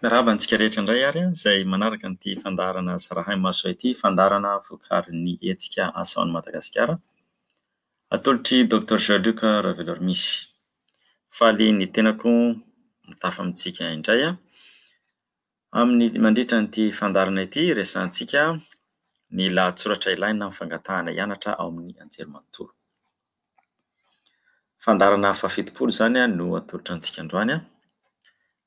Miarahaba antsika rehetra indray ary izay manaraka an'ity fandaharana zarahay maso ao ity, fandaharana vokarin'ny hetsika Asa ao Madagasikara, atolotr'i Docteur Jean Luc Raveloarmisy. Faly ny tenako mitafa amintsika indray aho. Amin'ny mandritra an'ity fandaharana ity, resahantsika ny lahatsoratra ilaina amin'ny fangatahana hianatra ao amin'ny anjerimanontolo. Fandaharana fahafitopolo izany no atolotra antsika androany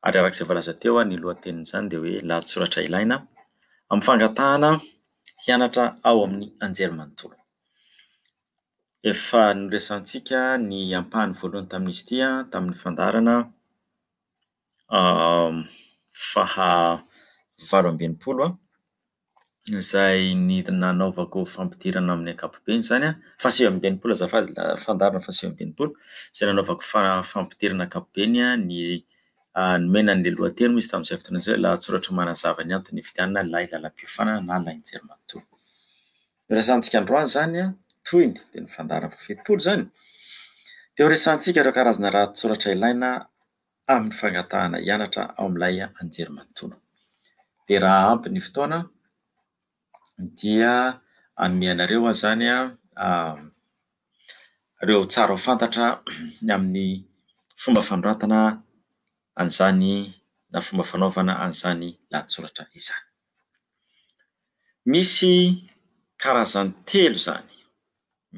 ary araka izay voalaza teo ny lohatenin'izany dia hoe lahatsoratra ilaina amin'ny fangatahana hianatra ao amin'ny anjerimanontolo. Efa noresahantsika ny ampahany voalohany tamin'izy ity tamin'ny fandaharana. faha valo amby enimpolo a, izay ny- nanaovako fampidirana amin'ny ankapobeny zany a, faha sivy amby enimpolo azafady, fandaharana faha sivy amby enimpolo, izay nanaovako fa- fampidirana ankapobeny ny nomena an'ilay lohateny moa izy tamin'izay fotoana izay hoe lahatsoratra manazava ny antony nividianana lay lalam-piofanana na lain-jermantsoa. Ny resahantsika androany zany a, tohiny dia ny fandaharana faha fitopolo zany, dia ho resahantsika ireo karazana lahatsoratra ilaina tamin'ny fangatahana hianatra ao amin'ilay anjerimanontolo. Dia raha ampy ny fotoana dia hanome anareo aho izany ireo tsara ho fantatra ny amin'ny fomba fanoratana an'izany na fomba fanaovana an'izany lahatsoratra izany. Misy karazany telo izany.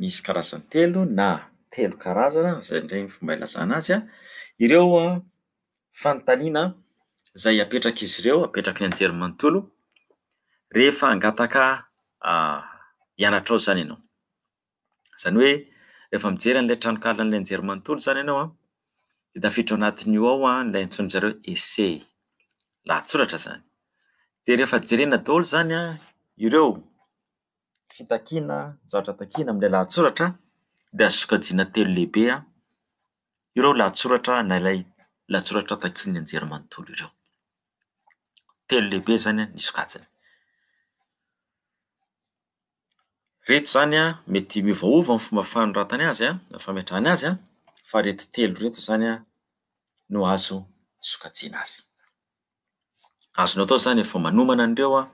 misy karazany telo na telo karazana izay indray ny fomba ilazana azy a, ireo fanontaniana izay apetrak'izy ireo, apetraky ny anjerimanontolo rehefa hangataka hianatra ao izany ianao, izany hoe rehefa mijery an'ilay tranonkalan'ny anjerimanontolo izany ianao a dia tafiditra ao anatin'io ao ilay antsoin'izy ireo hoe ese, lahatsoratra izany, dia rehefa jerena daholo izany ireo. fitakiana zavatra takiana amin'ilay lahatsoratra dia azo sokajiana telo lehibe ireo lahatsoratra na ilay lahatsoratra takian'ny anjerimanontolo ireo. Telo lehibe izany ny sokajiny. Ireto izany an, mety miovaova ny fomba fanoratany azy an, na fametrahany azy an, fa ireto telo ireto izany an no azo sokajiana azy. Azonao atao izany efa manomana an'ireo an.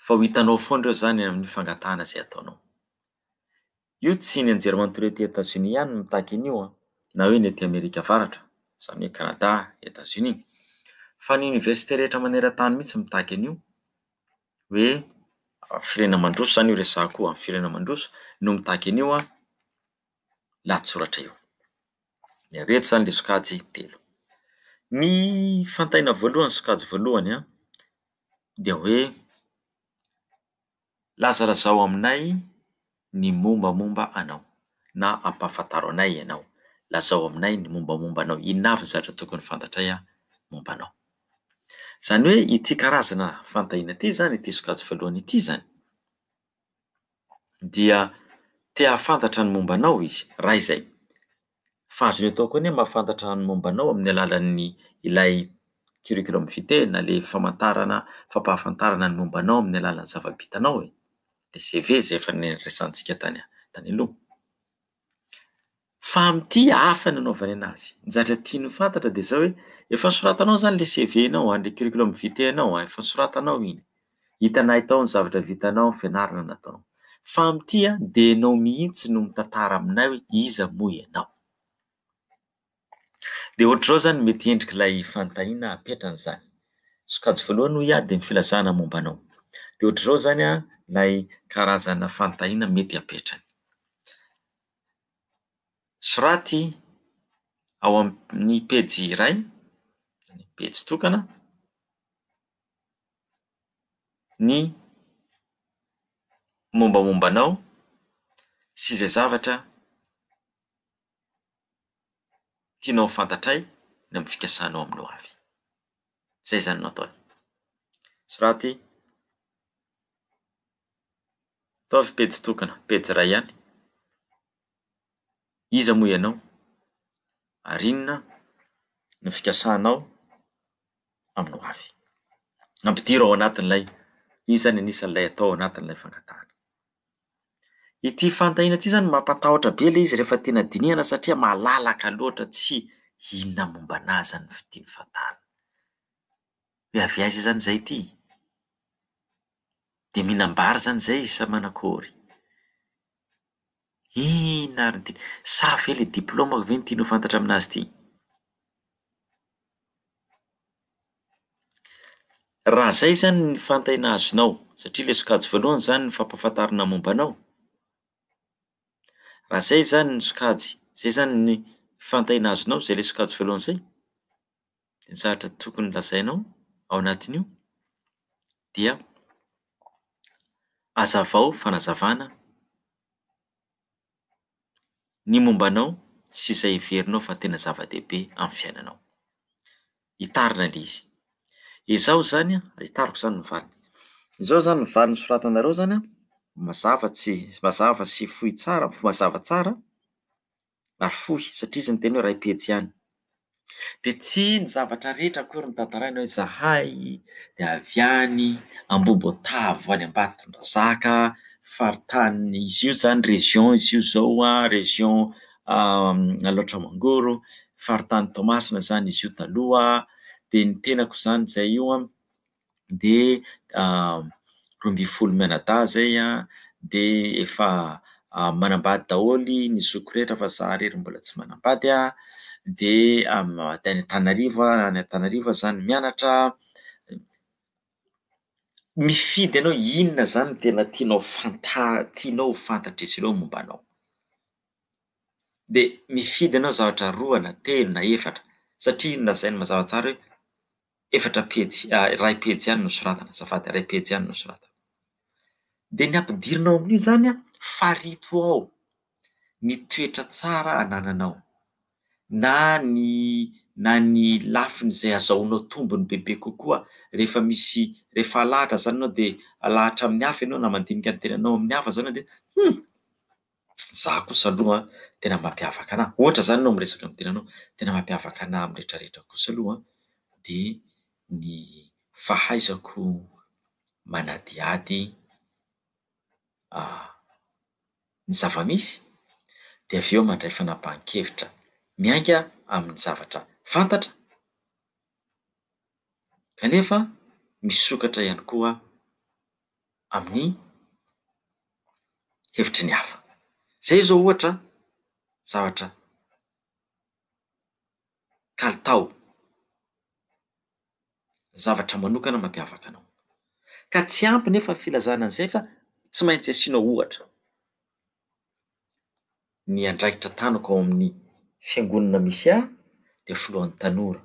fa ho hitanao foana ireo izany amin'ny fangatahana izay ataonao. Io tsy ny anjerimanontolo ety Etazonia ihany no mitaky an'io na hoe ny ety Amerika Avaratra, izany hoe Kanada, Etazonia, fa ny oniversite rehetra maneran-tany mihitsy mitaky an'io hoe firenena mandroso izany io resahako io, firenena mandroso no mitaky an'io lahatsoratra io. Ireto izany ilay sokajy telo. Ny fantaina voalohany sokajy voalohany an, dia hoe lazalazao aminay ny mombamomba anao na ampahafantaro anay ianao, lazao aminay ny mombamomba anao, inona avy ny zavatra tokony fantatray momba anao? Izany hoe ity karazana fanontaniana ity izany, ity sokajy voalohany ity izany. dia te hahafantatra ny momba anao izy, raha izay. Fa azony atao koa anie ny mahafantatra ny momba anao amin'ny alalan'ny ilay curriculum vitae na ilay famantarana fampahafantarana ny momba anao amin'ny alalan'ny zava-bitanao e, ilay CV izay efa niresahantsika tany aloha. Fa amin'ity hafa ny anaovany anazy. Ny zavatra tiany ho fantatra dia izao hoe efa nosoratanao izany ilay CV-nao an, ilay curriculum vitae-nao an, efa nosoratanao iny, hitanay tao ny zavatra vitanao, ny fianarana nataonao. Fa amin'ity an, dia ianao mihitsy no mitantara aminay hoe iza moa ianao. Dia ohatr'izao izany no mety endriky ilay fanontaniana apetrany izany. Sokajy voalohany hoy aho dia ny filazana momba anao. Dia ohatr'izao izany an ilay karazana fanontaniana mety apetrany. soraty ao amin'ny pejy iray, ny pejy tokana, ny mombamomba anao sy izay zavatra tianao ho fantatray ny amin'ny fikasanao amin'ny ho avy. Zay zany no ataony. Soraty. Ataovy pejy tokana, pejy iray ihany. Iza moa ianao? Ary inona no fikasanao amin'ny ho avy? Ampidiro ao anatin'ilay io izany anisan'ilay atao ao anatin'ilay fangatahana. Ity fanontaniana ity izany mampatahotra be ilay izy rehefa tena dinihana satria malalaka loatra tsy inona momba anahy izany no tiany fantarina. Hoe avy aiza izany izay ity? Dia mihinam-bary izany izay sa manakôry? Inona ary ny tiany? Sa ve ilay diplaomako ve no tiany ho fantatra aminazy ity? Raha izay izany ny fantena azonao, satria ilay sokajy voalohany izany ny fampahafantarana momba anao, raha izay izany ny sokajy, izay izany ny fantena azonao izay ilay sokajy voalohany izay? ny zavatra tokony lazainao ao anatin'io dia hazavao fanazavana ny momba anao sy izay heverinao fa tena zava-dehibe amin'ny fiainanao. Hitarina ilay izy. Ezaho izany an, hitariko izany ny valiny. Izao izany ny valiny soratanareo izany an, mazava tsy- mazava sy fohy tsara, mazava tsara ary fohy satria izy niteny hoe iray pejy ihany dia tsy ny zavatra rehetra akory no tantaraina hoe izahay dia avy any Ambohibotavo any Ambatondrazaka faritany izy io izany région izy io izao an, région Alaotra Mangoro faritany Toamasina izany izy io taloha dia ny tenako izany izay io an dia roa ambin'ny folo mianadahy izay an, dia efa manambady daholo ny zokiko rehetra fa izaho irery mbola tsy manambady an, dia any Antananarivo aho, any Antananarivo aho izany mianatra, mifidy anao inona izany tena tianao fanta- tianao ho fantatr'izy ireo momba anao? dia mifidy anao zavatra roa na telo na efatra satria inona izay no mazava tsara hoe efatra pejy, ah, iray pejy ihany no soratana, azafady, iray pejy ihany no soratana. Dia ny ampidirina ao amin'io izany an, farito ao ny toetra tsara anananao, na ny na ny lafiny izay azahoanao tombony bebe kokoa rehefa misy, rehefa alahatra izany ianao dia alahatra amin'ny hafa ianao na mandinika ny tenanao amin'ny hafa izany ianao dia, humm! Za kosa aloha an, tena mampiavaka anah, ohatra zany anao miresaka amin'ny tenanao, tena mampiavaka anah amin'ny rehetra rehetra kosa aloha an, de ny fahaizako manadihady ny zava-misy, de avy eo mandray fanapahan-kevitra miainga amin'ny zavatra fantatra, kanefa misokatra ihany koa. amin'ny hevitry ny hafa. Izay izao ohatra zavatra kalitao, zavatra manokana mampiavaka anao. Ka tsy ampy nefa ny filazana an'izay fa tsy maintsy asiana ohatra ny andraikitra tanako ao amin'ny fiangonana misy ahy dia filohan'ny tanora.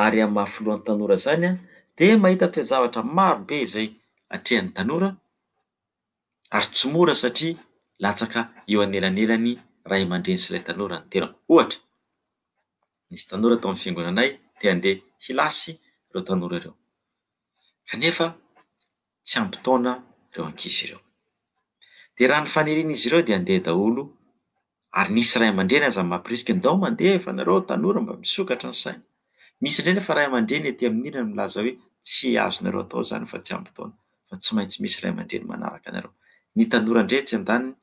ary amin'ny maha filohan'ny tanora izany aho dia mahita toe-javatra maro be izay atrehan'ny tanora ary tsy mora satria latsaka eo anelanelan'ny ray aman-dreny sy ilay tanora ny tenako. Ohatra, nisy tanora tao amin'ny fiangonanay te handeha hilasy ireo tanora ireo, kanefa tsy ampy taona ireo ankizy ireo. Dia raha ny fanirian'izy ireo dia handeha daholo ary nisy ray aman-dreny aza mamporisika ndao mandeha fa nareo tanora mba misokatra ny saina. Misy indray nefa ray aman-dreny ety amin'ny ilany milaza hoe tsy azonareo atao izany fa tsy ampy taona fa tsy maintsy misy ray aman-dreny manaraka anareo. Ny tanora ndray etsy andaniny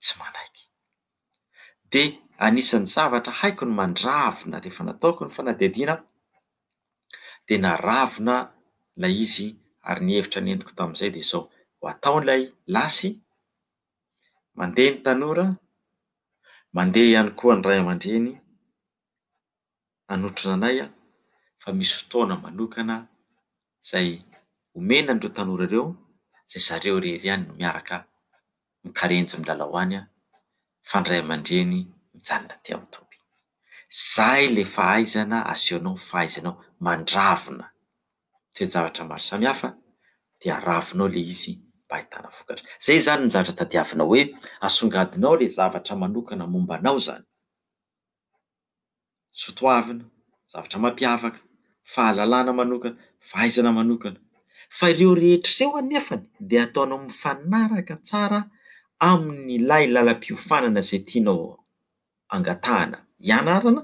tsy manaiky. dia anisan'ny zavatra haiko ny mandravona rehefa nataoko ny fanadihadiana aho dia naravona ilay izy ary ny hevitra nentiko tamin'izay dia izao, ho atao ilay lasy, mandeha ny tanora, mandeha ihany koa ny ray aman-dreny. nanotrona anay aho fa misy fotoana manokana izay omena an'ireo tanora ireo izay zareo irery ihany no miaraka mikarenjy milalao any fa ny ray aman-dreny mijanona aty amin'ny toby. Izay ilay fahaizana asehonao ny fahaizanao mandravona toe-javatra maro samihafa dia ravinao ilay izy mba ahitana vokatra. Izay izany no zavatra tadiavinao hoe asongadinao ilay zavatra manokana momba anao izany. sotoavina, zavatra mampiavaka, fahalalana manokana, fahaizana manokana. Fa ireo rehetra ireo anefany dia ataonao mifanaraka tsara amin'ilay lalam-piofanana izay tianao angatahana hianarana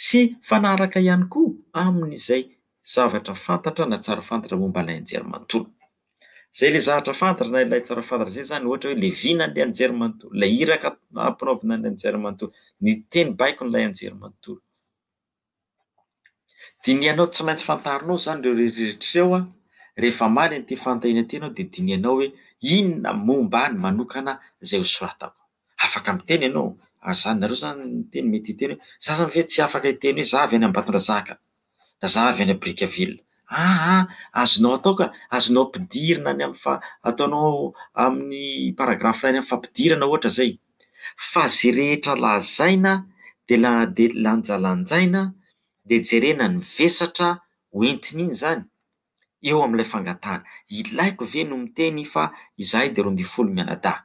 sy mifanaraka ihany koa amin'izay zavatra fantatra na tsara fantatra momba ilay anjerimanontolo. Zay le zahatra fantatra na ilay tsara fantatra zay zany ohatra hoe le vina an'le anjerimanontolo, le iraka ampanaovina an'le anjerimanontolo, ny teny baikon'ilay anjerimanontolo. Dinihanao tsy maintsy fantarinao zany reo rehetra reo an, rehefa hamaly an'ity fanontaniana ty ianao de dinihanao hoe inona momba ahy ny manokana zay ho soratako. Afaka miteny ianao, ary zany nareo zany miteny mety hiteny hoe, za zany ve tsy afaka hiteny hoe za avy any Ambatondrazaka, na za avy any Brickaville, aa azonao atao ka, azonao ampidirina any amin'ny faha, ataonao amin'ny paragraphe iray any amin'ny fampidirana ohatra zay, fa ze rehetra lazaina de la- de lanjalanjaina de jerena ny vesatra ho entin'iny zany, eo amin'ilay fangatahana. Ilaiko ve no miteny fa izahay dia roa ambin'ny folo mianadahy?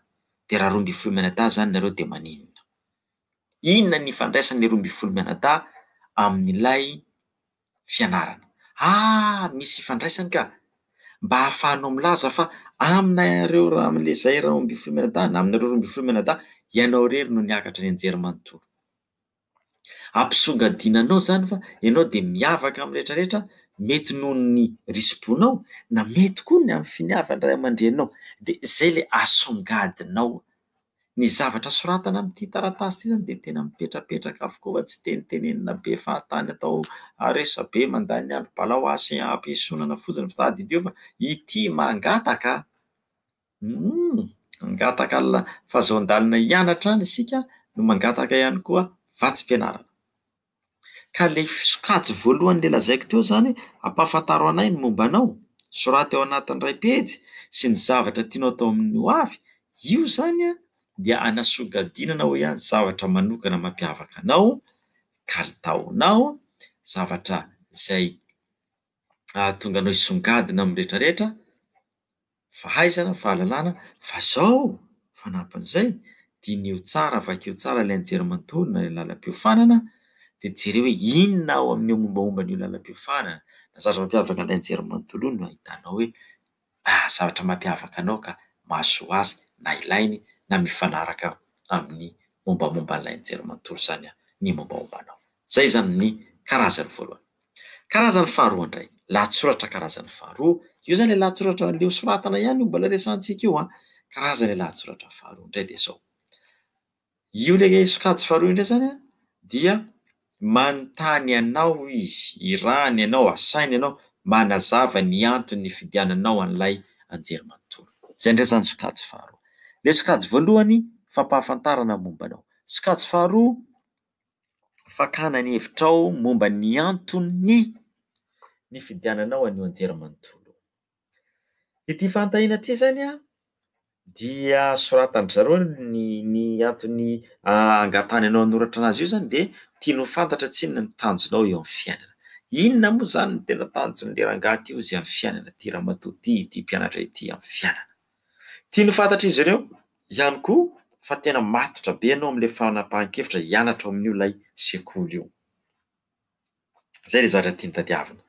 Dia raha roa ambin'ny folo mianadahy izany nareo dia maninona? Inona ny ifandraisan'ny roa ambin'ny folo mianadahy amin'ilay fianarana? Ah! Misy ifandraisany ka! Mba ahafahanao milaza fa aminareo ra- amin'ilay izahay roa ambin'ny folo mianadahy na aminareo roa ambin'ny folo mianadahy, ianao irery no niakatra nianjera manontolo. Ampisongadina anao izany fa ianao dia miavaka amin'ny rehetra rehetra, mety noho ny risi-bonao, na mety koa ny amin'ny finiavan'ny ray aman-dreninao. Dia izay ilay asongadinao. Ny zavatra soratana amin'ity taratasy ity izany dia tena mipetrapetraka avokoa fa tsy tenitenenina be fahatany atao resabe mandany ny androm-balahoany sy hampiesonana fotsiny fa tadidio fa ity mangataka. Humm! Mangataka alina fa zao ndalina hianatra any isika no mangataka ihany koa vatsim-pianarana. Ka le sokajy voalohany le lazaiko teo zany ampahafantaro anay ny momba anao, soraty ao anatin'ny iray pejy sy ny zavatra tianao atao amin'ny ho avy, io zany dia anasongadinana ho ihany zavatra manokana mampiavaka anao, kalitaonao, zavatra zay ahatonga anao hisongadina amin'ny retraretra, fahaizana, fahalalana fa zao fanampin'izay diniho tsara, vakio tsara ilay anjerimanontolo na ilay lalam-piofanana dia jereo hoe inona ao amin'io mombaomba an'io lalam-piofanana na zavatra mampiavaka an'ilay anjerimanontolo io no ahitanao hoe ah, zavatra mampiavaka anao ka mahasoa azy na ilainy na mifanaraka amin'ny mombamomba an'ilay anjerimanontolo izany ny mombaomba anao. Izay izany ny karazany voalohany. Karazany faharoa indray, lahatsoratra karazany faharoa, io izany ilay lahatsoratra andeha hosoratana ihany io mbola resahantsika io an, karazana ilay lahatsoratra faharoa indray dia izao, io ilay sokajy faharoa io indray izany an, dia manontany anao izy, irahany ianao, asainy ianao manazava ny antony nifidiananao an'ilay anjerimanontolo. Izay indray izany sokajy faharoa. Ilay sokajy voalohany, fampahafantarana momba anao. Sokajy faharoa, fakana ny hevitrao momba ny anton'ny nifidiananao an'io anjerimanontolo io, ity fanontaniana ity zany a dia soratan-dry zareo ny ny antony angatahany anao hanoratra anazy io zany de tiany ho fantatra tsinona ny tanjonao eo amin'ny fiainana, inona moa zany ny tena tanjon'le rangahy ty hozy amin'ny fiainana ty ramatoa ty, ty mpianatra ity amin'ny fiainana. Tiany ho fantatr'izy ireo ihany koa fa tena matotra be ianao amin'ilay fanapahan-kevitra hianatra ao amin'io ilay sekoly io. Izay ilay zavatra tiany tadiavina,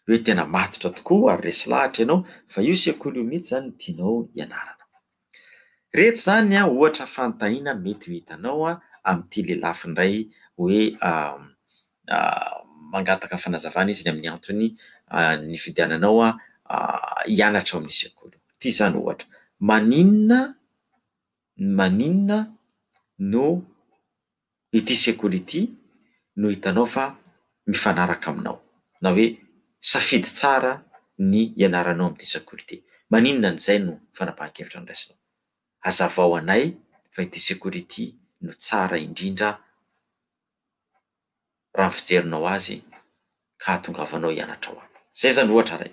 hoe tena matotra tokoa ary resy lahatra ianao fa io sekoly io mihitsy izany no tianao hianarana. Iretsy izany ohatra fanontaniana mety ho hitanao amin'ity lelafo indray hoe mangataka fanazavana izy ny amin'ny antony nifidiananao hianatra ao amin'ny sekoly. Toy izany ohatra, maninona maninona no ity sekoly ity no hitanao fa mifanaraka aminao? Na hoe safidy tsara ny hianaranao amin'ity sekoly ity. Maninona an'izay no fanapahan-kevitra noraisinao? Hazavao anay fa ity sekoly ity no tsara indrindra. raha ny fijerinao azy ka ahatongavanao hianatra ao aminy. Izay izany ohatra iray.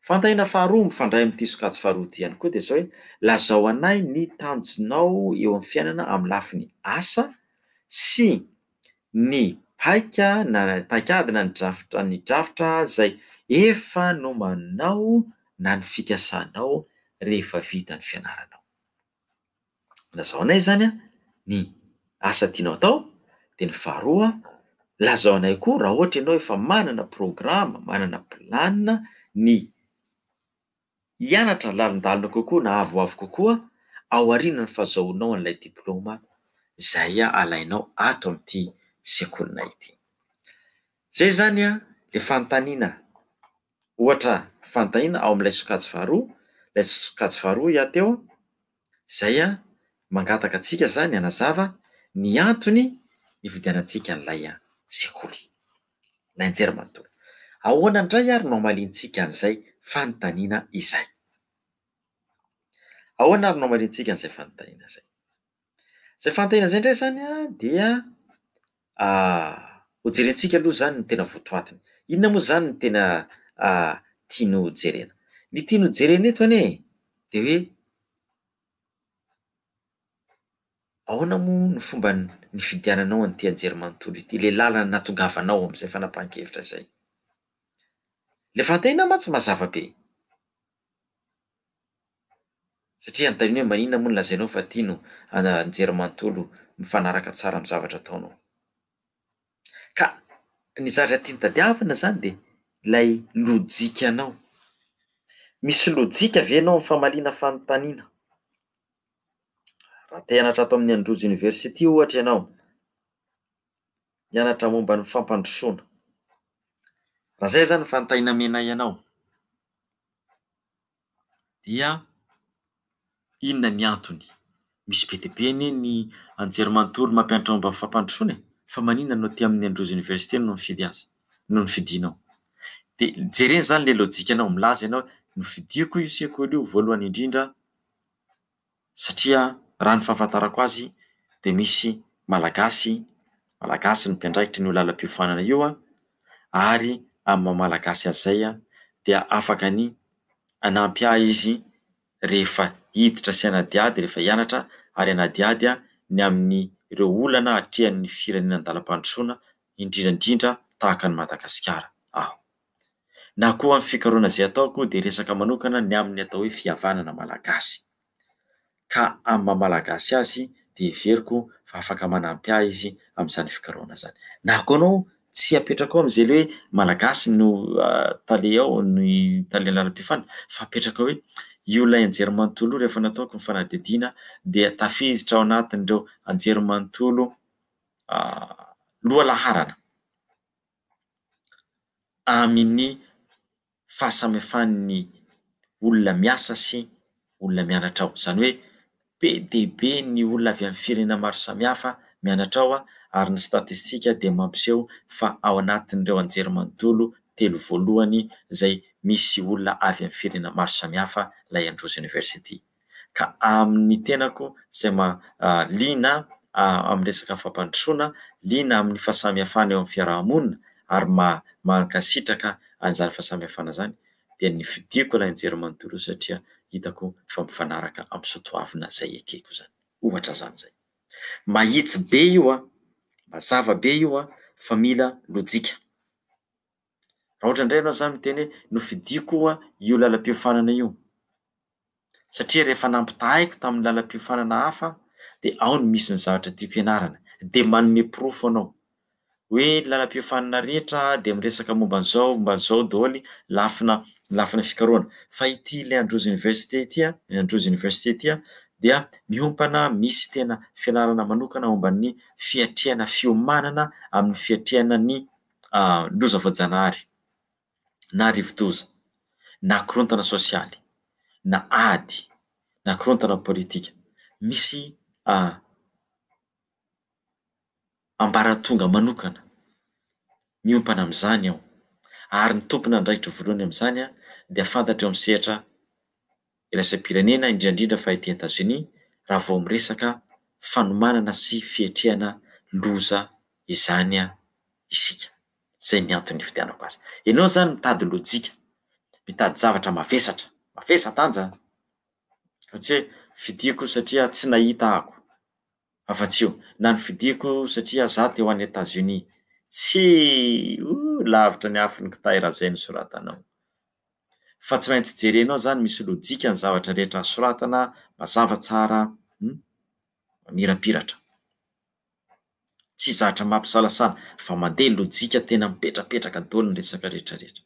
Fanontaniana faharoa mifandray amin'ity sokajy faharoa ity ihany koa dia izao hoe, lazao anay ny tanjonao eo amin'ny fiainana amin'ny lafiny asa sy ny paika na paikady na ny drafitra ny drafitra izay efa nomaninao na ny fikasanao rehefa vita ny fianaranao. lazao anay zany a ny asa tianao atao, de ny faharoa lazao anay koa raha ohatra ianao efa manana programa, manana plan ny hianatra lalindalina kokoa na avoavo kokoa aorianan'ny fahazahoanao an'ilay diplaoma zay alainao ato amin'ity sekolinay ity, zay zany a le fanontaniana. Ohatra, fantaina ao amin'ilay sokajy faharoa, ilay sokajy faharoa hiahy teo an, izay an, mangataka antsika izany hanazava ny antony nividianantsika an'ilay sekoly, ilay anjerimanontolo. Ahoana indray ary no hamaliantsika an'izay fanontaniana izay? Ahoana ary no hamaliantsika an'izay fanontaniana izay? Zay fahantena zay ndray zany a dia ho jerentsika aloha zany ny tena votoatiny, inona moa zany ny tena tiany ho jerena? Ny tiany ho jerena eto anie de hoe ahoana moa ny fomba n- nifidiananao an'ity anjerimanontolo ity, le làlana natongavanao am'zay fanapahan-kevitra zay? Le fahantena mantsy mazava be. Satria anontaniany hoe maninona moa no lazainao fa tia no anjery manontolo mifanaraka tsara amin'ny zavatra ataonao. Ka ny zavatra tiany tadiavina izany dia ilay lojikanao. Misy lojika ve ianao amin'ny famaliana fanontaniana? Raha te hianatra ato amin'ny Androzy University ohatra ianao, mianatra momba ny fampandrosoana. Raha izay izany ny fanontaniana nomenay anao, dia inona ny antony? Misy be dia be anie ny anjerimanontolo mampianatra momba ny fampandrosoana e, fa maninona no aty amin'ny Androzy Université no mifidy azy, no nofidinao? Dia jerena izany ilay lojikanao, milaza ianao hoe nofidiko io sekoly io voalohany indrindra, satria raha ny fahafantarako azy dia misy Malagasy, Malagasy no mpiandraikitra an'io lalam-piofanana io ary amin'ny maha Malagasy azy izay dia afaka ny hanampy ahy izy rehefa hiditra sy hanadihady, rehefa hianatra ary hanadihady ny amin'ireo olana atrehan'ny firenena an-dalam-pandrosoana indrindra indrindra tahaka an'i Madagasikara aho. na koa ny fikarohana izay ataoko dia resaka manokana ny amin'ny atao hoe fihavanana malagasy, ka amin'ny maha malagasy azy dia heveriko fa afaka manampy ahy izy amin'izany fikarohana izany, na koa ianao tsy apetrakao amin'izay hoe malagasy no tale ao ny tale lalam-pihafana fa apetraka hoe io ilay anjerimanontolo io rehefa nataoko ny fanadihadiana dia tafiditra ao anatin'ireo anjerimanontolo lohalaharana amin'ny fahasamihafan'ny olona miasa sy olona mianatra ao. Izany hoe be dia be ny olona avy amin'ny firenena maro samihafa mianatra ao ary ny statistika dia mampiseho fa ao anatin'ireo anjerimanontolo telo voalohany izay misy olona avy amin'ny firenena maro samihafa ilay Androzy University. ka amin'ny tenako izay liana amin'ny resaka fampandrosoana, liana amin'ny fahasamihafana eo amin'ny fiaraha-monina ary mankasitraka an'izany fahasamihafana izany dia ny fidiako ilay anjerimanontolo satria hitako fa mifanaraka amin'ny soatoavina izay ekeko izany. Ohatra izany izay. Mahitsy be io an! Mazava be io an! Fa mila lojika. Raha ohatra indray ianao izany miteny hoe nofidiako io lalam-piofanana io. satria rehefa nampitahaiko tamin'ny lalam-piofanana hafa aho dia ao no misy ny zavatra tiako hianarana, dia manome porofo anao hoe ny lalam-piofanana rehetra dia miresaka momba an'izao, momba an'izao daholo, lafina lafina fikarohana, fa ity ilay Androzy Université ity an, ny Androzy Université ity an, dia miompana misy tena fianarana manokana momba ny fiatrehana fiomanana amin'ny fiatrehana ny loza voajanahary. na rivodoza, na korontana sosialy, na ady, na korontana politika, misy ambaratonga manokana miompana amin'izany ao, ary ny tompon'andraikitra voalohany amin'izany dia fantatra eo amin'ny sehatra. iraisam-pirenena, indrindra indrindra fa ety Etazonia, raha vao miresaka fanomanana sy fiatrehana loza izany isika. Izay ny antony nividianako azy. Ianao izany mitady lojika, mitady zavatra mavesatra, mavesa-danja an! Fa tsy hoe vidiako satria tsy nahita ako. Afa-tsy io, na novidiako satria za teo any Etazonia. Tsy! Ooh, lavitra ny afon'ny kitay raha izay no soratanao. fa tsy maintsy jerenao zany misy lojika ny zavatra rehetra soratana mazava tsara hum mamirapiratra tsy zatra mampisalasala fa mandeha lojika tena mipetrapetraka daholo ny resaka retraretra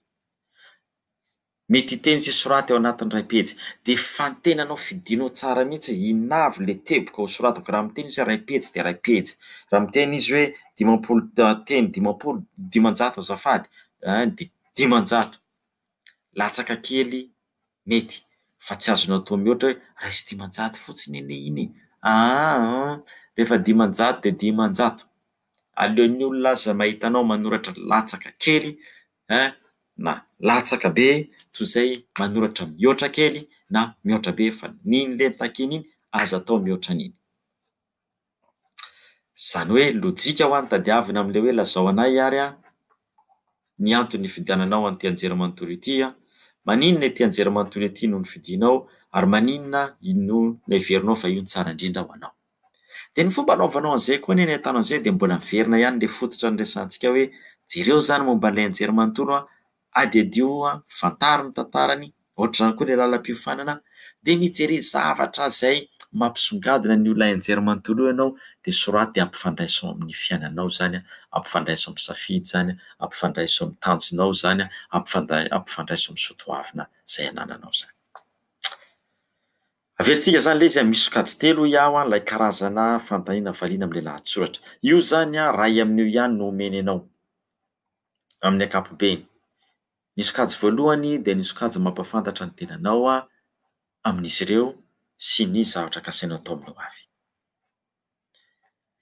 mety hiteny sy hisoraty ao anatin'ny iray pejy de fantenanao fidinao tsara mihitsy hoe inona avy le teboka ho soratako raha miteny izy hoe iray pejy de iray pejy raha miteny izy hoe dimampolo teny dimampolo dimanjato azafady a de dimanjato latsaka kely mety fa tsy azonao atao mihoatra hoe raiso dimanjato fotsiny anie iny e! aa rehefa dimanjato dia dimanjato aleon'ny olona aza mahita anao manoratra latsaka kely eh na latsaka be toy izay manoratra mihoatra kely na mihoatra be fa ny iny le takiana iny aza atao mihoatra an'iny Izany hoe lojika ho'a ny tadiavina amin'ilay hoe lazao anay ary an, ny anton'ny nifidiananao an'ity anjerimanontolo ity an, maninona ity anjerimanontolo ity no nofidinao ary maninona no noheverinao fa io no tsara indrindra ho anao. Dia ny fomba anaovanao an'izay koa anie ny ahitana an'izay dia mbola miverina ihany ilay fototra niresahantsika hoe jereo izany momba an'ilay anjerimanontolo an, Adiadio, fantaro ny tantarany, ohatr'izany koa ilay lalam-piofanana dia mijery zavatra izay mampisongadina ny olona enjery manontolo eo ianao dia soraty dia ampifandraiso amin'ny fiainanao izany, ampifandraiso amin'ny safidy izany, ampifandraiso amin'ny tanjonao izany, ampifandraiso amin'ny soatoavina izay anananao izany. Averintsika izany ilay izy hoe misy sokajy telo hoy aho ilay karazana fandaniana valiana amin'ilay lahatsoratra. Io izany iray amin'io ihany no omeny anao. amin'ny ankapobeny. Ny sokajy voalohany dia ny sokajy mampahafantatra ny tenanao amin'izy ireo sy ny zavatra kasainao atao amin'ny hoavy.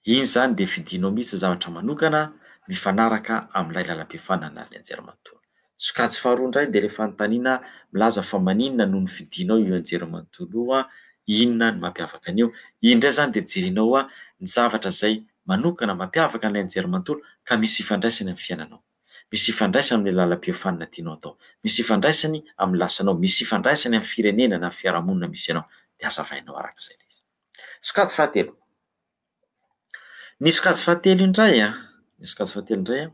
Iny izany dia fidinao mihitsy zavatra manokana mifanaraka amin'ilay lalam-piofanana ary ny anjerimanontolo. Sokajy faharoa indray dia ilay fanontaniana milaza fa maninona no nofidinao io anjerimanontolo io, inona no mampiavaka an'io. Iny indray izany dia jerenao ny zavatra izay manokana mampiavaka an'ilay nijery manontolo ka misy ifandraisany amin'ny fiainanao. Misy ifandraisany amin'ny lalam-piofanana tianao atao. Misy ifandraisany amin'ny lasanao. Misy ifandraisany amin'ny firenena na fiarahamonina misy anao. Dia azavainao araka izay ilay izy. Sokajy fahatelo. Ny sokajy fahatelo indray an, ny sokajy fahatelo indray an,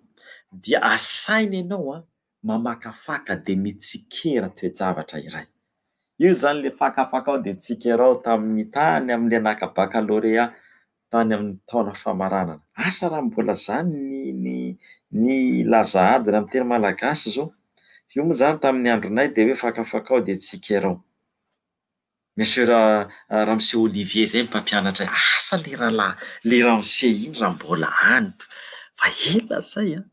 dia asaina ianao an, mamakafaka dia mitsikera toe-javatra iray. Io izany ilay fakafakao dia tsikerao tamin'ny tany amin'ilay naka bakalorea tany amin'ny taona famaranana. Asa raha mbola izany ny ny ny laza adina amin'ny teny malagasy izao? Io moa izany tamin'ny andronay dia hoe fakafakao dia tsikerao. Monsieur Ra- Ramose Olivier izay no mpampianatra ahy. Asa ilay rahalahy ilay ramose iny raha mbola any fa ela izay an!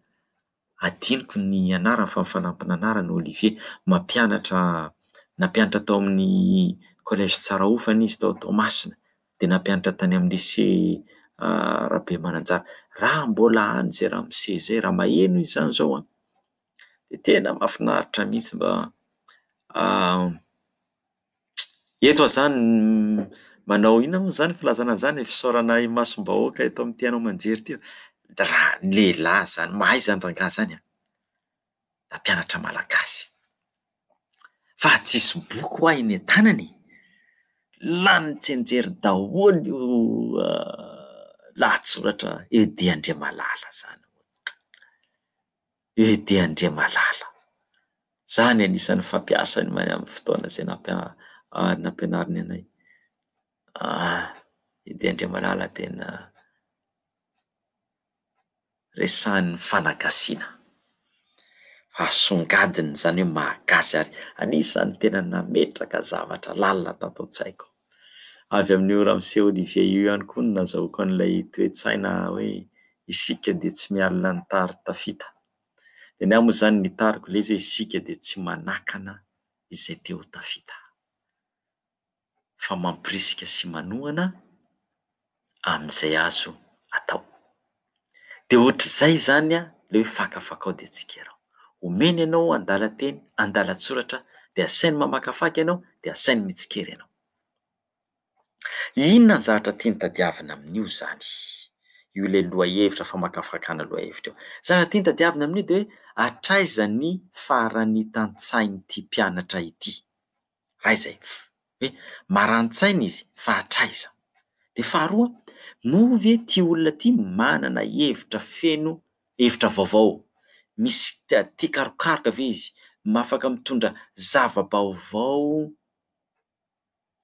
adinoko ny anarany fa fanampin'anarana Olivier. Mampianatra nampianatra tao amin'ny collège Tsarahofana izy tao Toamasina dia nampianatra tany amin'ny lycée Rabemananjara raha mbola any izay ramose izay raha maheno izy izany izao an dia tena mahafinaritra mihitsy mba Eto aho izany manao inona moa izany filazana an'izany e, fisaorana imasom-bahoaka eto amin'ity haino aman-jery ity. Raha ny lehilahy izany, mahay izany rangahy izany an, nampianatra malagasy. Fa tsisy boky ho'aho eny an-tanana e! Lany tsenjery daholo io lahatsoratra Edy Andriamalala izany. Edy Andriamalala. Za ny anisan'ny fampiasa ny mail amin'ny fotoana izay nampianariny anay. Edy Andriamalala tena resahan'ny fanagasiana. Asongadina izany hoe mahagasy ary anisan'ny tena nametraka zavatra lalina tato an-tsaiko. Avy amin'i io Ramsey Olivier io ihany koa no nazahoako an'ilay toe-tsaina hoe isika dia tsy mialona ny tary tafita. Dia ny ahy moa izany ny tariko ilay izy hoe isika dia tsy manakana izay te ho tafita fa mampirisika sy manohana amin'izay azo atao. Dia ohatr'izay izany ilay hoe fakafakao dia tsikerao. Omeny ianao andalan-teny, andalan-tsoratra dia asainy mamakafaka ianao dia asainy mitsikera ianao. Inona ny zavatra tiany tadiavina amin'io izany? Io ilay lohahevitra famakafakana lohahevitra io. Zavatra tiany tadiavina amin'io dia hoe hatraiza ny faran'ny tantsahin'ity mpianatra ity? Iray izay, hoe marani-tsaina izy fa hatraiza? Dia faharoa, moa ve ity olona ity manana hevitra feno hevitra vaovao? Misy tia karokaroka ve izy? Afaka mitondra zava-baovao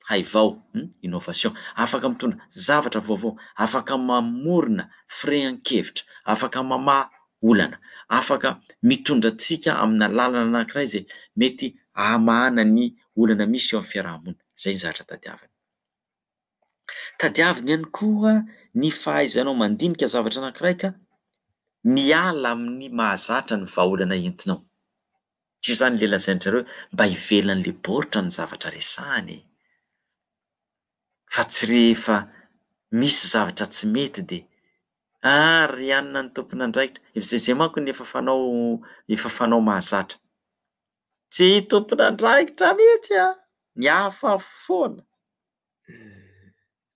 haivao, innovation, afaka mitondra zavatra vaovao, afaka mamorona firehan-kevitra, afaka mamaha olana. Afaka mitondra antsika amina lalana anankiray izay mety hamahana ny olana misy eo amin'ny fiaraha-monina. Izay ny zavatra tadiaviny. Tadiaviny ihany koa ny fahaizanao mandinika zavatra anankiray ka miala amin'ny mahazatra ny vahaolana entinao. Io izany ilay lazain-dry zareo hoe mba ivelan'ilay baoritra ny zavatra resahana e! fa tsy rehefa misy zavatra tsy mety dia ah ry anona ny tompon'andraikitra efa izay izay manko ny efa fanao efa fanao mahazatra tsy tompon'andraikitra mihitsy ah ny hafa foana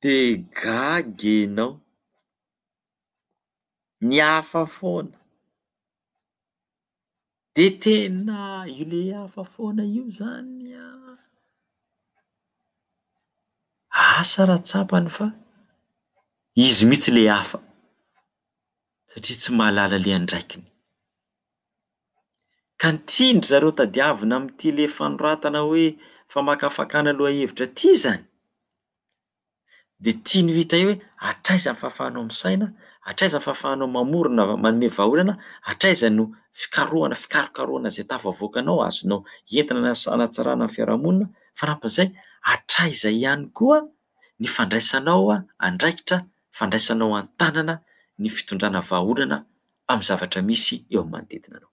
dia gaga enao ny hafa foana De tena io le hafa foana io zany an, asa raha tsapany fa izy mihitsy le hafa satria tsy mahalala le andraikiny. Ka ny tian-dry zareo tadiavina amin'ity le fanoratana hoe famakafakana lohahevitra ty zany, dia tiany ho hita eo hoe hatraiza ny fahafahanao misaina, hatraiza ny fahafahanao mamorona, manome vahaolana, hatraiza no fikarohana, fikarokarohana izay tafavoakanao, azonao entina na hanatsarana ny fiarahamonina, fanampin'izay, hatraiza ihany koa ny fandraisanao andraikitra, fandraisanao an-tanana ny fitondrana vahaolana amin'ny zavatra misy eo amin'ny manodidina anao.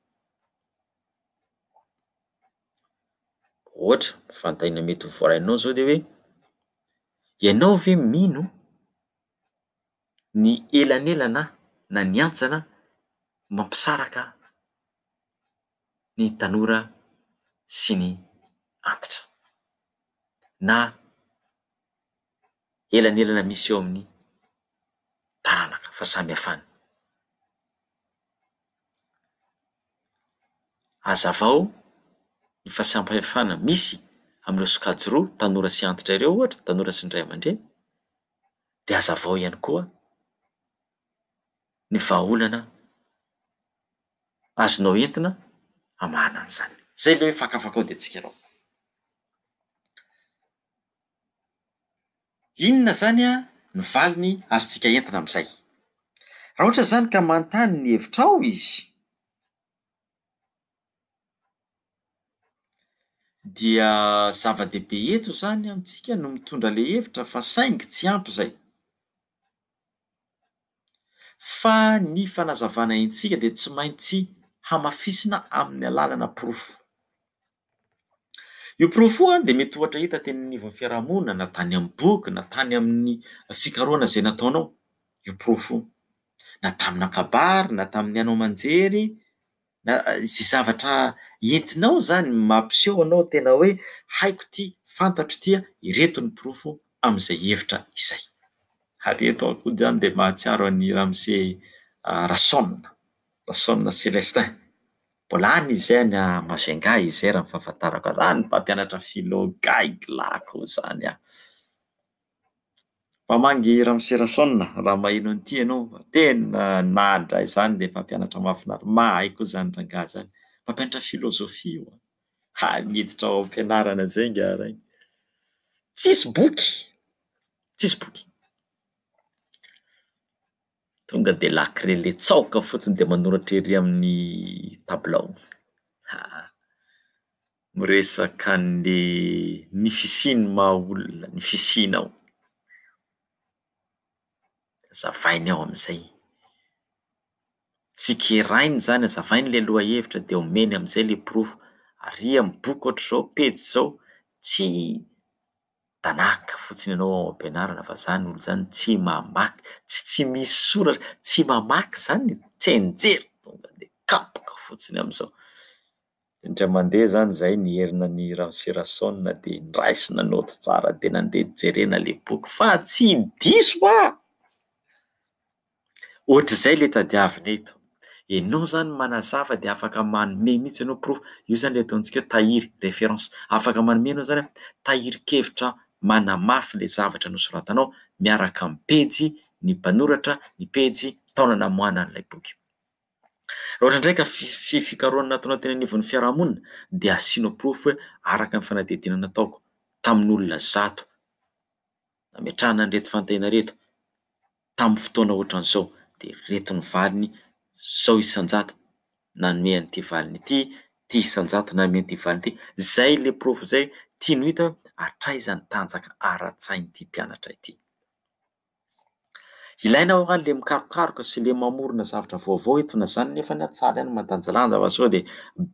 Ohatra, fanontaniana mety ho voaray anao zao de hoe: ianao ve mino ny elanelana na ny antsana mampisaraka ny tanora sy ny antitra? Na. elanelana misy eo amin'ny taranaka fahasamihafana. Hazavao ny fahasamihafana misy amin'ireo sokajy roa, tanora sy antitra ireo ohatra, tanora sy ny ray aman-dreny, dia hazavao ihany koa ny vahaolana azonao entina hamahana an'izany. Zay ilay hoe fakafakao dia tsikarao. Inona izany no valiny azontsika entina amin'izay? Raha ohatra izany ka manontany ny hevitrao izy, dia zava-dehibe eto izany amintsika no mitondra ilay hevitra fa saingy tsy ampy izay. Fa ny fanazavana entsika dia tsy maintsy hamafisina amin'ny alalana porofo. Io porofo io dia mety ohatra hita teny anivon'ny fiarahamonina na tany amin'ny boky na tany amin'ny fikarohana izay nataonao io porofo io na tamina kabary na tamin'ny haino aman-jery. Na izay zavatra entinao izany mampiseho anao tena hoe haiko ity, fantatro ity an, ireto ny porofo amin'izay hevitra izay. Ary eto aho koa izany dia mahatsiaro an'i Ramose Rason, Rason Celestin. Mbola any izy any à Majunga izay raha ny fahafantarako azy. Any mpampianatra philo gaigy lahy koa izany an! Mamangy Ramoserason a! raha maheno an'ity ianao, tena nahadra ahy izany ilay mpampianatra mahafinaritra, mahay koa izany rangahy izany, mpampianatra philosophie io, hay miditra ao am-pianarana izay nga raha iny, tsisy boky, tsisy boky. Tonga dia la crele tsaoka fotsiny dia manoratra ery amin'ny tabilao. Ha! Miresaka an'le ny fisian'ny maha olona, ny fisianao. Azavainy ao amin'izay. Tsikerainy zany, azavainy le lohahevitra dia omeny amin'izay le porofo. Aria amin'ny boky ohatr'izao, pejy izao, tsy Tanaka fotsiny ianao ao am-pianarana fa zany olo zany tsy mamaky, tsy tsy misy soratra, tsy mamaky zany e, tsenjery tonga de kapoka fotsiny amizao. Indray mandeha zany zay nierina an'i Ramoserason de nraisina naoty tsara de nandeha jerena le boky fa tsy diso ah! Ohatr'izay le tadiavina eto. Enao zany manazava de afaka manome mihitsy enao proof, io zany le ataontsika hoe tahiry, référence. Afaka manome enao zany hoe tahirin-kevitra manamafy le zavatra nosoratanao miaraka amin'ny pejy, ny mpanoratra, ny pejy, taona namoahanan'ilay boky. Raha ohatra indray ka fi- fikarohana nataonao teny anivon'ny fiarahamonina dia asianao proof hoe araka ny fanadihadiana nataoko tamin'olona zato. nametrahana an'ireto fanontaniana ireto tamin'ny fotoana ohatran'izao dia ireto ny valiny izao isan-jato nanome an'ity valiny ity, ity isan-jato nanome an'ity valiny ity, izay ilay porofo izay tiany ho hita hoe hatraiza ny tanjaka ara-tsain'ity mpianatra ity. Ilaina ao raha le mikarokaroka sy le mamorona zavatra vaovao eto na zany nefa ny atsara ihany mandanjalanja fa sao dia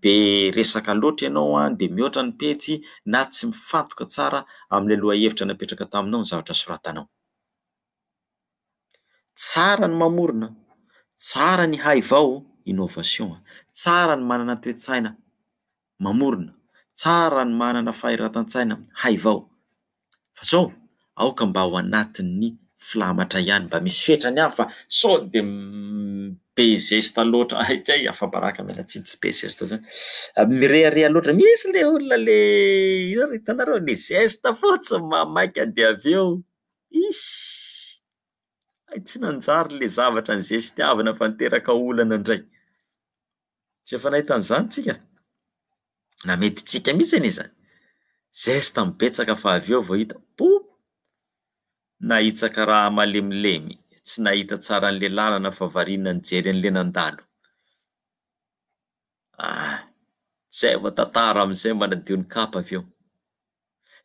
be resaka loatra ianao an dia mihoatra ny pejy na tsy mifantoka tsara amin'ilay lohahevitra napetraka taminao ny zavatra soratanao. Tsara ny mamorona, tsara ny haivaho, innovation, tsara ny manana toe-tsaina, mamorona, tsara ny manana fahiratan-tsaina haivao, fa sao aoka mba ao anatin'ny filamatra ihany mba misy fetrany aho fa sao de be zesta loatra hay kay afabaraka miala tsiny tsy be zesta zany mirehareha loatra misy le olona le inona ry hitanareo le zesta fotsiny mamaika de avy eo iss hay tsy nanjary le zavatra nizestiavina fa niteraka olana ndray Tsy efa nahita an'izany tsika? Na mety tsika mihitsy anie zany. Zesta mibetsaka fa avy eo vao hita poup! Nahitsaka raha malemilemy, tsy nahita tsara an'le lalana fa variana nijery an'le nandalo. Ah! Zay vao tantara amin'izay manadio ny kapa avy eo.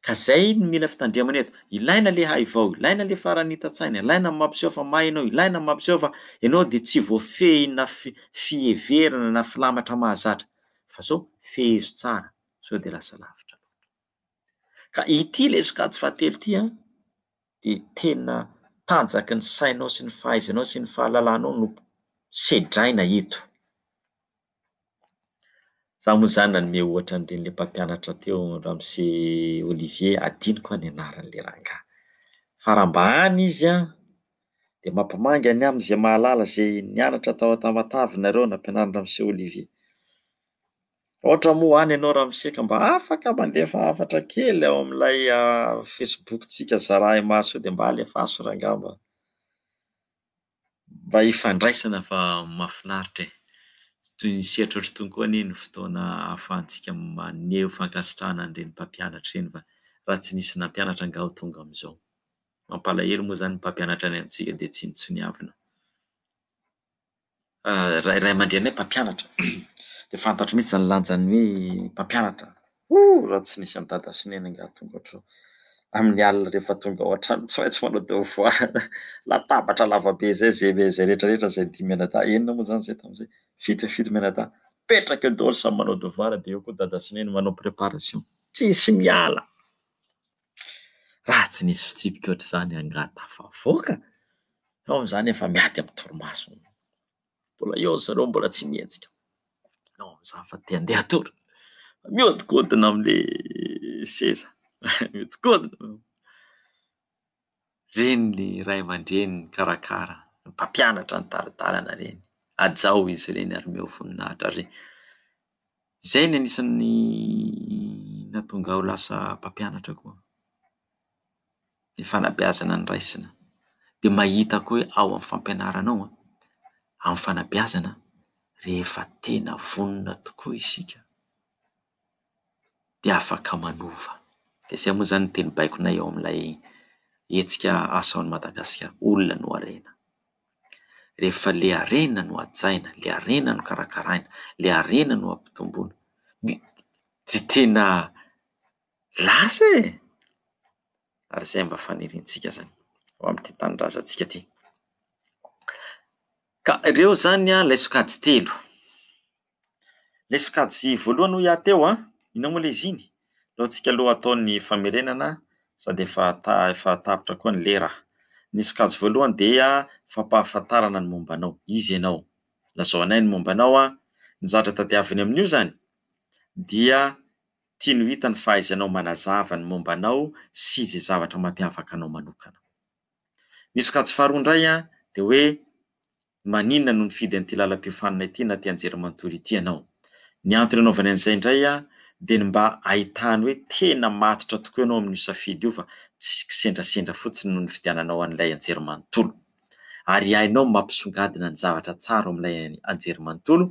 Ka zay no mila fitandremana eto, ilaina le haivao, ilaina le farany hita tsaina, ilaina ny mampiseho fa mahay ianao, ilaina ny mampiseho fa ianao dia tsy voafehina fiheverana na filamatra mahazatra fa sao fehezo tsara sao dia lasa lavitra loatra. Ka ity ilay sokajy fahatelo ity an, dia tena tanjaky ny sainao sy ny fahaizanao sy ny fahalalanao no sedraina eto. Za moa zany nanome ohatra an'ireny ilay mpampianatra teo ramose Olivier adinoko ny anaran'ilay rangahy fa raha mba any izy a de mampimangy any aminy zay mahalala zay nianatra tao Tamatave nareo nampianarin'i ramose Olivier. Raha ohatra moa any ianao ramose ka mba afaka mandefa hafatra kely ao amin'ilay facebook-tsika zarahy maso io de mba alefaso rangahy mba. Mba hifandraisana fa mahafinaritra e! Tsy toy ny sehatry ohatry itony koa anie ny fotoana ahafahantsika maneho fankasitrahana an'ireny mpampianatra ireny fa raha tsy nisy nampianatra angaha ho tonga amin'izao. Mampalahelo moa izany ny mpampianatra any amintsika dia tsy nitsoniavina. Raha ray aman-dreninay mpampianatra dia fantatro mihitsy izany lanjan'ny hoe mpampianatra. Hoo raha tsy nisy an'i dada sy neny angaha tonga ohatr amin'ny alina rehefa tonga ao an-trano tsy maintsy manao devoir latabatra lavabe zay zay ve zay rehetra rehetra zay dimy mianadahy enina moa zany zay tamin'izay fito e fito mianadahy mipetraka eo daholo samy manao devoir dia eo koa dada sy neny manao préparation tsisy miala raha tsy nisy fitsipika ohatr'izany angaha tafavoaka fa ao amin'izany efa miady amin'ny torimaso Mbola eo ry zareo mbola tsy nihetsika. Ianao amin'izany fa te handeha hatory. Mihodinkodina amin'ilay seza. Mihodinkodina. Ireny ny ray aman-dreny mikarakara, mpampianatra ny tari-dalana ireny. Hajao izy ireny ary omeo voninahitra ary Izay ny anisan'ny nahatonga ahy ho lasa mpampianatra koa, ny fanabeazana noraisina. Dia mahita koa hoe ao amin'ny fampianarana ao, amin'ny fanabeazana, rehefa tena vonona tokoa isika dia afaka manova. Dia izay moa izany no teny baikonay ao amin'ilay hetsika Asa ao Madagasikara, olona no harena. Rehefa le harena no hajaina, le harena no karakaraina, le harena no ampitomboina, dia tena lasa e! ary izay mba faniriantsika izany ho amin'ity tanindrazantsika ity. Ka ireo izany ilay sokajy telo. Ilay sokajy voalohany hoy aho teo an, inona moa ilay izy iny? Aleontsika aloha hatao ny famerenana sady efa ta- efa tapitra koa ny lera. Ny sokajy voalohany dia fampahafantarana ny momba anao, iza ianao? Lazao anay ny momba anao an! Ny zatra tadiaviny amin'io izany dia tiany ho hita ny fahaizanao manazava ny momba anao sy izay zavatra mampiavaka anao manokana. Ny sokajy faharoa indray an dia hoe Maninona no nifidy an'ity lalam-piofanana ity na ity anjerimanontolo ity ianao? Ny antony anaovany an'izay indray dia ny mba hahitany hoe tena matotra tokoa ianao amin'io safidy io fa tsy kisendrasendra fotsiny no nifidiananao an'ilay anjerimanontolo. Ary hainao ny mampisongadina ny zavatra tsara ao amin'ilay anjerimanontolo,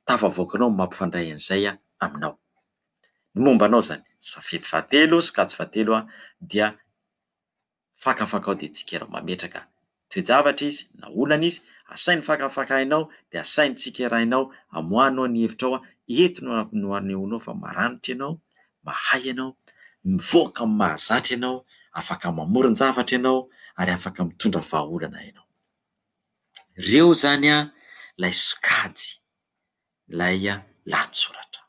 tafavoakanao ny mampifandray an'izay aminao. Ny momba anao izany, safidy fahatelo, sokajy fahatelo, dia. fakafakao dia tsikera mametraka toe-javatra izy na olana izy, asainy fakafakainao dia asainy tsikerainao amoahanao ny hevitrao, eto no no anehoanao fa maranitra ianao, mahay ianao, mivoaka amin'ny mahazatra ianao, afaka mamoron-javatra ianao ary afaka mitondra vahaolana ianao. Ireo izany ilay sokajy ilay lahatsoratra.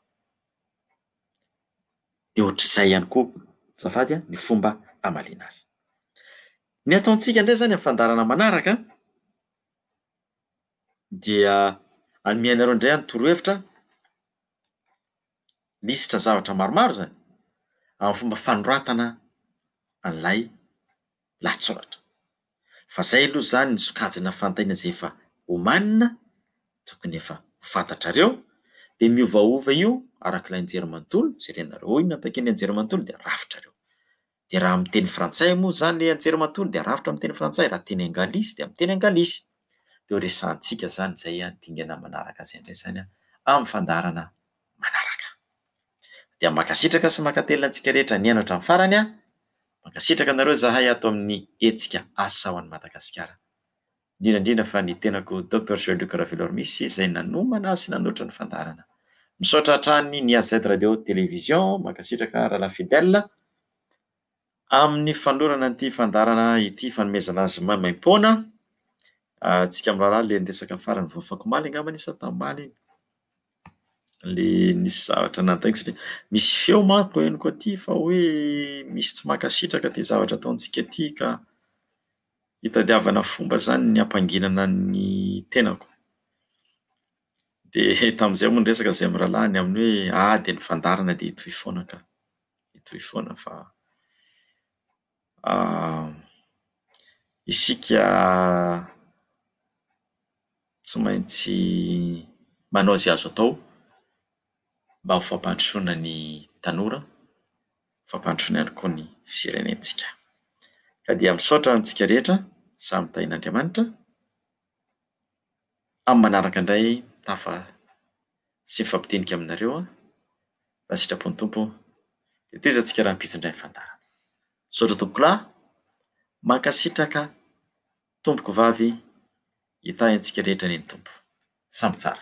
Dia ohatr'izay ihany koa azafady a ny fomba hamaliana azy. Ny ataontsika indray izany amin'ny fandaharana manaraka dia hanome anareo indray aho ny torohevitra, lisitra zavatra maromaro izany amin'ny fomba fanoratana an'ilay lahatsoratra. Fa zay aloha zany ny sokajina fantaina zay efa omanina, tokony efa ho fantatrareo, de miovaova io arak'ilay nijery manontolo, jerenareo ao inona takian'ny nijery manontolo de arafitrareo. De raha amin'ny teny frantsay moa zany le nijery manontolo de arafitra amin'ny teny frantsay, raha teny angalisy de amin'ny teny angalisy. De ho resahantsika zany zay dingana manaraka zay ndray zany amin'ny fandaharana manaraka. Dia mankasitraka sy mankatelina antsika rehetra nihaino hatramin'ny farany an! Mankasitraka anareo izahay ato amin'ny hetsika Asa ho an'i Madagasikara. Indrindra indrindra fa ny tenako Doctor Jean Luc Ravelormisy izay nanomana sy nanoatra ny fandaharana. Misaotra hatrany ny AZ Radio Télévision, mankasitraka Rahalahy Fidèle. Amin'ny fanolorana ity fandaharana ity fanomezana azy maimaim-poana antsika mirahalahy ilay niresaka farany vao afaky omaly angamba anie sa tamaly iny? ilay nisy zavatra nataoko satria misy feo manko henoko aty fa hoe misy tsy mankasitraka ity zavatra ataontsika ity ka hitadiavana fomba izany ny hampanginana ny tenako. Dia tamin'izay moa ny resaka izay mirahalahy ny amin'ny hoe ady ny fandaharana dia hitohy foana ka. hitohy foana fa isika tsy maintsy manao izay azo atao mba ho fampandrosoana ny tanora, fampandrosoana ihany koa ny firenentsika. Ka dia misaotra antsika rehetra samy tahin'Andriamanitra. Amin'ny manaraka indray mitafa sy mifampitenika aminareo aho, raha sitrapo ny Tompo. Dia tohizantsika rahampitso indray ny fandaharana. Misaotra tompokolahy, mankasitraka tompokovavy, hitahy antsika rehetra anie ny Tompo. Samby tsara.